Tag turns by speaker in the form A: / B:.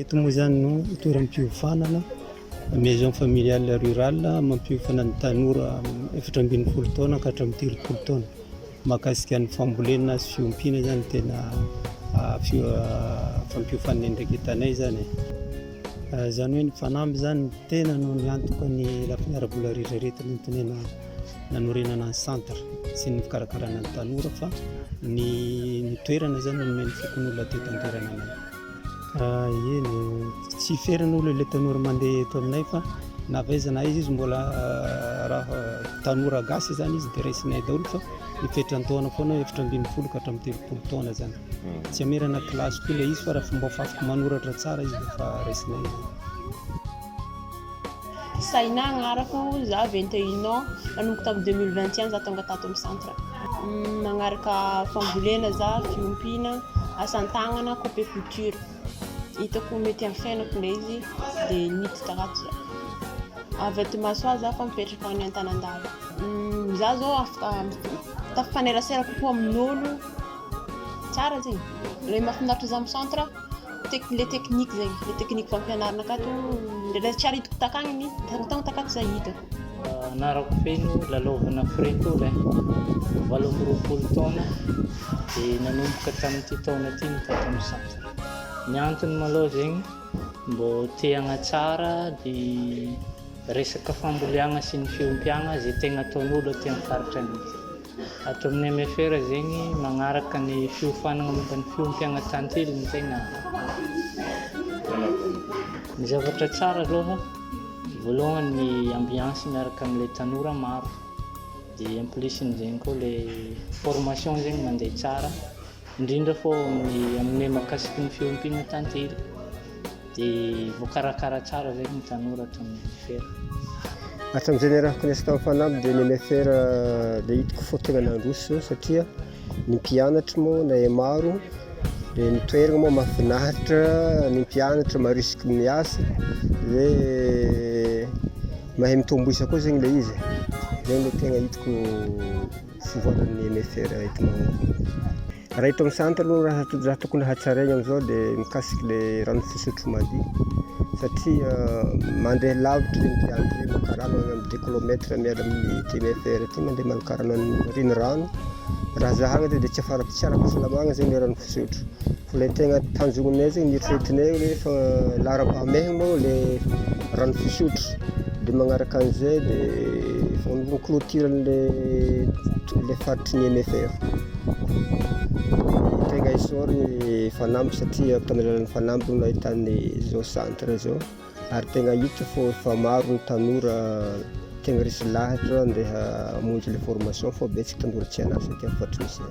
A: Eto moa izany no toeram-piofanana Maison Familiale Rurale mampiofana ny tanora efatra ambin'ny folo taona ka hatramin'ny telopolo taona. Mahakasika ny fambolena sy fiompiana izany no tena fampiofan'ny andraikitanay izany e. Izany hoe ny fanamby izany no tena no niantoka ny lafiny ara-bola rehetra rehetra nentinay nanorenana ny centre sy ny fikarakarana ny tanora fa ny toerana izany no nomen'ny fokonolona teto an-toerana anay. Ah, eny, tsy ferana olo ilay tanora mandeha eto aminay fa na vaiza na izy izy mbola ah, raha tanora gasy zany izy dia raisinay daholo fa mifetra an-taona foana efatra ambin'ny folo ka hatramin'ny telopolo taona zany hmm. tsy amerana kilasy koa ilay izy fa raha fomba fafiko manoratra tsara izy dia fa raisinay Saina agnarako, za vingt et un ans, nanomboka tamin'ny deux mille vingt et un za tonga tato amin'ny centre. Magnaraka fambolena za, fiompiana, asa tagnana, coupe couture. Hitako mety amin'ny fiainako ilay izy dia niditra ato za. Avy aty Mahasoa za fa mipetraka any Antanandalo. Za zao afaka tafanerasera kokoa amin'olo, tsara zegny, le mahafinaritra za amin'ny centre. le technique zegny le technique fampianarana akato ndraindray tsy ary hitako takagny ny tany takato zah hitako anarako feno lalaovana frettole valo amby roapolo taona dia nanomboka tamin'ity taona ity ny tato amin'ny centre ny antony malao zegny mbô te hagnatsara ny resaka famboleagna sy ny fiompiagna zay tegna ataon'olo aty amin'ny faritra anay Ato amin'ny MFR zegny magnaraka ny fiofanagna momba ny fiompagnan-tantely no tegna Ny zavatra tsara aloha, voalohany ny ambiance miaraka amin'ilay tanora maro. Dia en plus-n'izegny koa le formation zegny mandeha tsara. indrindra fa ao amin'ny amin'ny mahakasiky ny fiompiana tantely dia voakarakara tsara ve ny tanora ato amin'ny MFR? Hatramin'izay niarahako niasa tamin'ny fanamby dia ny MFR dia hitako fa tena nandroso satria ny mpianatra moa na maro dia ny toerana moa mahafinaritra ny mpianatra marisiky ny asa dia mahay mitombo isa koa zegny ilay izy, zay no tegna hitako Fivoaran'ny MFR entinao ao. Raha eto amin'ny centre aloha raha to- raha tokony hatsaraina amin'izao dia mikasika ilay rano fisotro madio satria ah, mandeha lavitra ireny mpiandry ireny maka rano any amin'ny deux kilomètres miala amin'ity MFR ity mandeha maka rano any renirano raha zahagna zay dia tsy afara tsy ara-pahasalamagna zay ny rano fisotro fa ilay tegna tanjognonay zay ny eritreretinay hoe fa laharam-pahamehagna moa ilay rano fisotro dia magnaraka an'izay dia vao mi clôture an'ilay faritry ny MFR dia tegna isaor ny fanamby satria tamin'ny alalan'ny fanamby no nahitan'ny zao centre zao ary tegna hita fô efa maro ny tanora tegna resy lahatra ndeha hamonjy le formation fô betsaka tanora tsy an'asa aty amin'ny faritry misy ahy